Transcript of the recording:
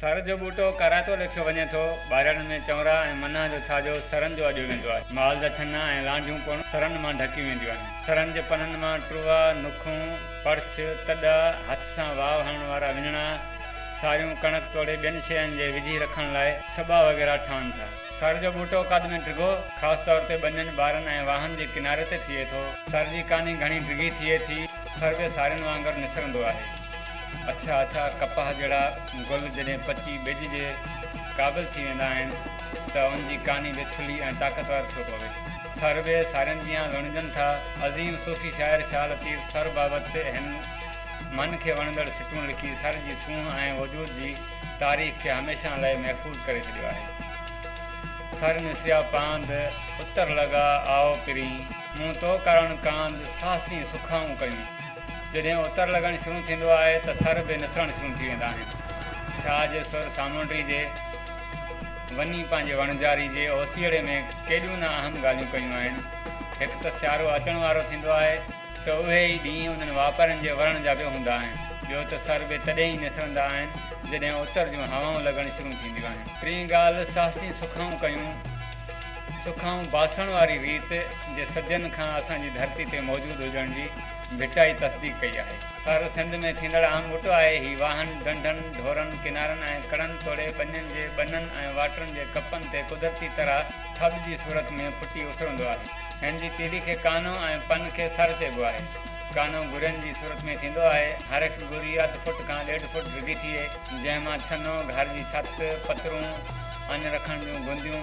سر جو ٻوٽو ڪارائتو ليکيو وڃي ٿو. ٻارڙن ۾ چؤنرا ۽ منان جو ڇاڄو سرن جو اڏيو ويندو آهي. مال جا ڇنا ۽ لانڍيون پڻ سرن مان ڍڪيون وينديون آهن. سرن جي پنن مان ٽروا، نوکون، پڙڇ، تڏا، هٿ سان واء هڻڻ وارا وڃڻا، ساريون، ڪڻڪ توڙي ٻين شين جي وجهي رکڻ لاء ڇٻا وغيره ٺهن ٿا. سر جو ٻوٽو قد ۾ ڊگهو، خاص طور تي ٻنين، ٻارن ۽ واهن جي ڪناري تي ٿئي ٿو. سر جي ڪاني گهڻي ڊگهي ٿئي ٿي. سر به سارين وانگر نسرندو آهي. اڇا اڇا ڪپاهه جهڙا گل جڏهن پچي ٻج جي قابل ٿي ويندا آهن ته ان جي ڪاني به ٿلهي ۽ طاقتور ٿيو پوي. ٿر به سارين جيان لڻجن ٿا. عظيم صوفي شاعر شاهه لطيف ٿر بابت هن من کي وڻندڙ سٽون لکي ٿر جي سونهن ۽ وجود جي تاريخ کي هميشان لئه محفوظ ڪري ڇڏيو آهي. ٿر نسيا پاند، اتر لڳا آء پرين. مون تو ڪارڻ ڪاند، ساهسين سکائون ڪرين. جڏهن اتر لڳڻ شروع ٿيندو آهي ته ٿر به نٿرڻ شروع ٿي ويندا آهن. شاهه جي سر سامونڊري جي وني پنهنجي وڻجاري جي اوسيئڙي ۾ ڪيڏيون نه اهم ڳالهيون ڪيون آهن. هڪ ته سيارو اچڻ وارو ٿيندو آهي ته اهي ئي ڏينهن انهن واپارين جي ورڻ جا به هوندا آهن. ٻيو ته ٿر به تڏهن ئي نٿرندا آهن جڏهن اتر جون هوائون لڳڻ شروع ٿينديون آهن. ٽين ڳالهه ساهسين سکائون ڪيون. سکائون باسڻ واري ريت جي صدين کان اسان جي ڌرتي تي موجود هجڻ جي ڀٽائي تصديق ڪئي آهي. ٿر سنڌ ۾ ٿيندڙ عام ٻوٽو آهي. هي واهن، ڍنڍن، ڍورن، ڪنارن ۽ ڪڙن توڙي ٻنين جي ٻنن ۽ واٽرن جي ڪپن تي قدرتي طرح ٿٻ جي صورت ۾ ڦٽي اسرندو آهي. هن جي تيڏي کي ڪانو ۽ پن کي سر چئبو آهي. ڪانو گرين جي صورت ۾ ٿيندو آهي. هر هڪ گري اڌ فوٽ کان ڏيڍ فوٽ ڊگهي ٿئي. جنهن مان ڇنو، گهر جي ڇت، پترون، اڃ رکڻ جون گنديون،